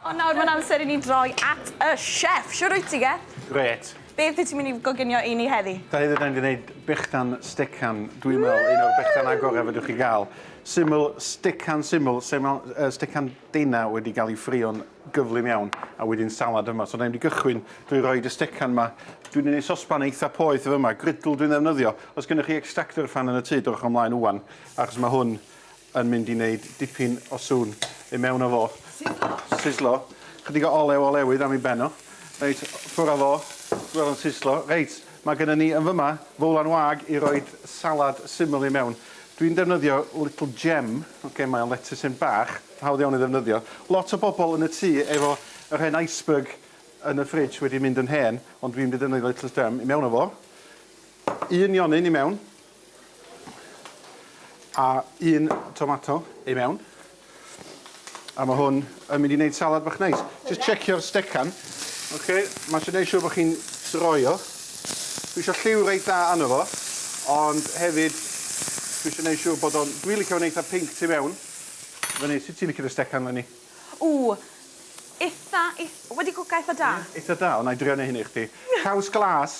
Ond nawr mae'n amser i ni droi at y chef. Shwd wyt ti, Geth? Grêt. Beth wyt ti'n mynd i goginio i ni heddi? Da heddi da ni'n mynd i wneud bychan stecan, dwi'n meddwl un o'r bychan agorau fedrwch chi gael. Syml, stecan syml, stecan denau wedi cael ei ffrio'n gyflym iawn a wedyn salad yma. So da ni'n mynd i gychwyn drwy roed y stecan yma. Dwi'n mynd i sosban eitha poeth efo yma, grydl dwi'n ddefnyddio. Os gennych chi extractor fan yn y tŷ, dowch o mlaen ŵan, achos mae hwn yn mynd i neud dipyn o sŵn i mewn â fo. Sizzlo. Sizzlo. Chydig o olew olewydd am ei ben o. Reit, ffwr â fo. Gweld o'n sizzlo. Reit, mae gynnon ni yn fyma fowlan wag i roid salad syml i mewn. Dwi'n defnyddio little gem, oce, mae o'n lettuceyn bach, hawdd iawn ei ddefnyddio. Lot o bobl yn y tŷ efo yr hen iceberg yn y fridge wedi mynd yn hen, ond dwi'n mynd i ddefnyddio little gem i mewn â fo. Un nionyn i mewn. A un tomato i mewn. A ma' hwn yn mynd i neud salad bach neis. Jyst checio'r stecan. Oce, ma' isio neud siŵr bo' chi'n droi o. Dwi isio lliw reit dda arno fo, ond hefyd dwi isio neud siŵr bod o'n... Dwi licio fo'n eitha pinc tu mewn. Fyny, sut ti'n licio dy stecan leni? Ww, itha, ith- wedi cwca itha da. Ie? Itha da? O, 'nai drio neu' hyn i chdi. Caws glas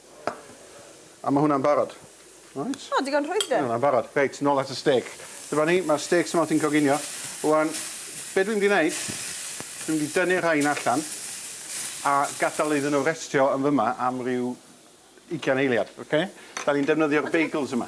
A ma' hwnna'n barod. Reit. O digon rhwydd de? Mae hwnna'n barod. Reit, nôl at y stêc. Dyma ni, ma'r stêcs yma wrthi'n coginio. Ŵan, be' dwi mynd i neud, dwi mynd i dynnu'r rhain allan a gadal iddyn nhw restio yn fy 'ma am ryw ugian eiliad, ocê? 'Dan ni'n defnyddio'r bagels yma.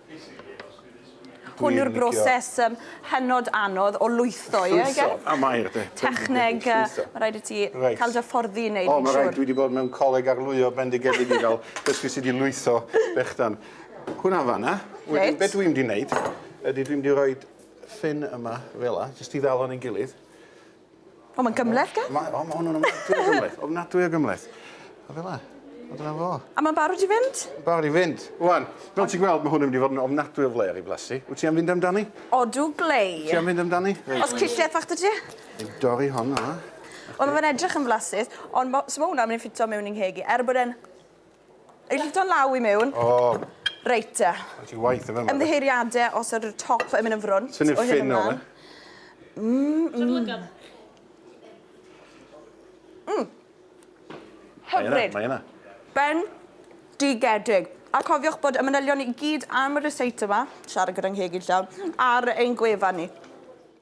Hwn yw'r broses um, hynod anodd o lwytho, ie? Llwytho, a mae, de. Techneg, uh, mae rhaid i ti right. cael dy fforddi i wneud yn siŵr. O, mae rhaid, dwi wedi bod mewn coleg arlwyo bendigedig i gael dysgu sydd wedi lwytho bechdan. Hwna fanna, wedyn beth dwi'n wedi wneud, ydy dwi'n wedi rhoi ffin yma, fel la, jyst i ddal o'n ei gilydd. O, mae'n gymleth gen? Mae, o, mae hwn yn ofnadwy o gymleth. Ofnadwy o gymleth. A fel la. A dyna fo. A mae'n barod i fynd? Barod i fynd. Wan, fel ti'n gweld, mae hwn yn mynd i fod yn ofnadwy o flair i blasu. Wyt ti am fynd amdani? Odw, glei. Ti am fynd amdani? Os cilliau fach dy ti? Dwi'n dorri hon yma. Wel, mae'n edrych yn flasus, ond mae hwnna'n mynd i ffitio mewn i'n ngheg i, er bod e'n Ei llifo'n law i mewn. O. Reit te. Mae'n ti waith yn fama. Ymddiheiriade os ydw'r top yn mynd yn frwnt. Ti'n i'n ffyn o'n e? Mmm. Mmm. Hyfryd. Mae yna. Ben digedig. A cofiwch bod y manylion i gyd am y receipt yma, siarad gyda ngheg i'n llawn, ar ein gwefan ni.